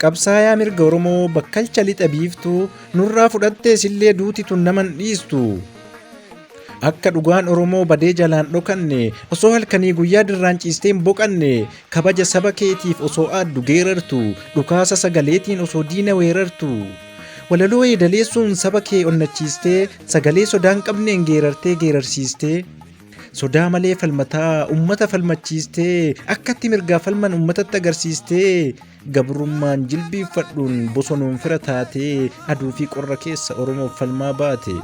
Qabsaayaa mirga Oromoo bakkalcha lixa biiftuu nurraa fudhattee sillee duuti tun naman dhiistu. Akka dhugaan Oromoo badee jalaan dhokanne osoo halkanii guyyaa dirraan ciistee hin boqanne kabaja saba keetiif osoo aaddu geerartu dhukaasa sagaleetiin osoo diina weerartu. Walaloo yeedaleessuun saba kee onnachiistee Sagalee sodaa hin qabneen geerartee geerarsiistee Sodaa malee falmataa ummata falmachiistee Akkatti mirgaa falman ummatatti agarsiistee Gabrummaan jilbiiffadhuun bosonuun fira taatee Aduu fi qorra keessa Oromoof falmaa baate.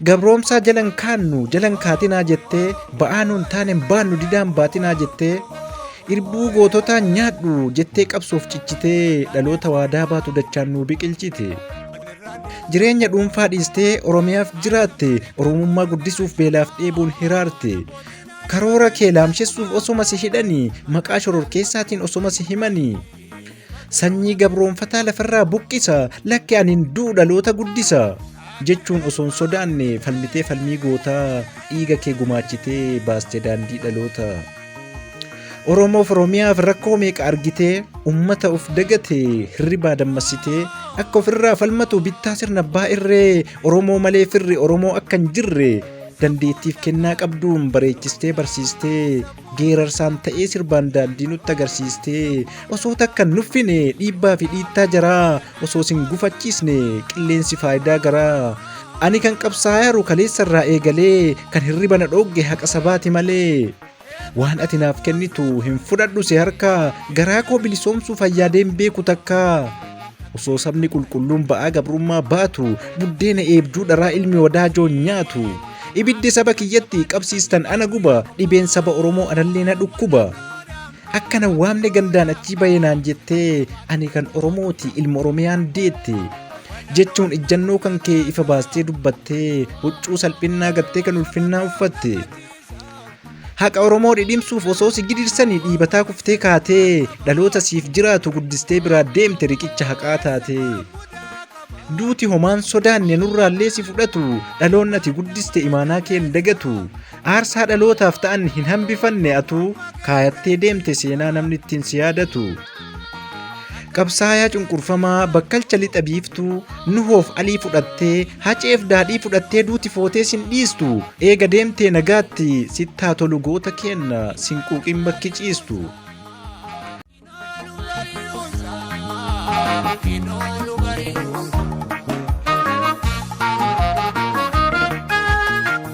Gabroomsaa jalan kaannu jalan kaatinaa jettee ba'aa nuun taanen baannu didaan baatinaa jettee irbuu goototaa nyaadhu jettee qabsoof cichitee dhaloota waadaa baatu dachaan nuu biqilchite. Jireenya dhuunfaa dhiistee Oromiyaaf jiraatte Oromummaa guddisuuf beelaaf dheebuun hiraarte. Karoora kee laamshessuuf osoma si hidhanii maqaa shororkeessaatiin osoma si himanii. Sanyii gabroonfataa lafarraa buqqisa, lakki ani hin du'u dhaloota guddisa. Jechuun osoo hin sodaanne falmitee falmii gootaa dhiiga kee gumaachitee baaste daandii dhaloota. Oromoof Oromiyaaf rakkoo meeqa argitee ummata of dagate hirribaa dammassitee akka ofirraa falmatu bittaa sirna abbaa irree Oromoo malee firri Oromoo akka hin jirre dandeettiif kennaa qabduun bareechistee barsiistee Geerarsaan ta'ee sirbaan daandii nutti agarsiistee osoo takka hin nuffine dhiibbaa fi dhiittaa jaraa osoo sin gufachiisne qilleensi faayidaa garaa. Ani kan qabsaa'aaru kaleessa irraa eegalee kan hirriba na dhoogge haqa sabaati malee. Waan ati naaf kennitu hin fudhadhu si harkaa garaa koo bilisoomsuuf ayyaadeen beeku takkaa. Osoo sabni qulqulluun ba'aa gabrummaa baatu, buddeena eebduu dharaa ilmi wadaajoon nyaatu. Ibiddi saba kiyyatti qabsiistan ana guba, dhibeen saba Oromoo anallee na dhukkuba. Akka na waamne gandaan achii bahe naan jettee, ani kan Oromooti ilma Oromiyaan deette. Jechuun ijjannoo kan kee ifa baastee dubbattee, huccuu salphinnaa gattee kan ulfinnaa uffatte. Haqa Oromoo dhidhimsuuf osoo si gidirsanii dhiibataa kuftee kaatee dhaloota siif jiraatu guddistee biraa deemte riqicha haqaa taate. Duuti homaan sodaanne nurraallee si fudhatu dhaloonni ati guddiste imaanaa kee hin dagatu. Aarsaa dhalootaaf ta'an hin hambifanne atuu kaayattee deemte seenaa namni ittiin si yaadatu. Qabsaayaa cunqurfamaa bakkalcha lixa biiftuu nuhoof alii fudhattee haceef daadhii fudhattee duuti footee sin dhiistu eega deemtee nagaatti sittaa tolu goota keenna sin quuqin bakki ciistu.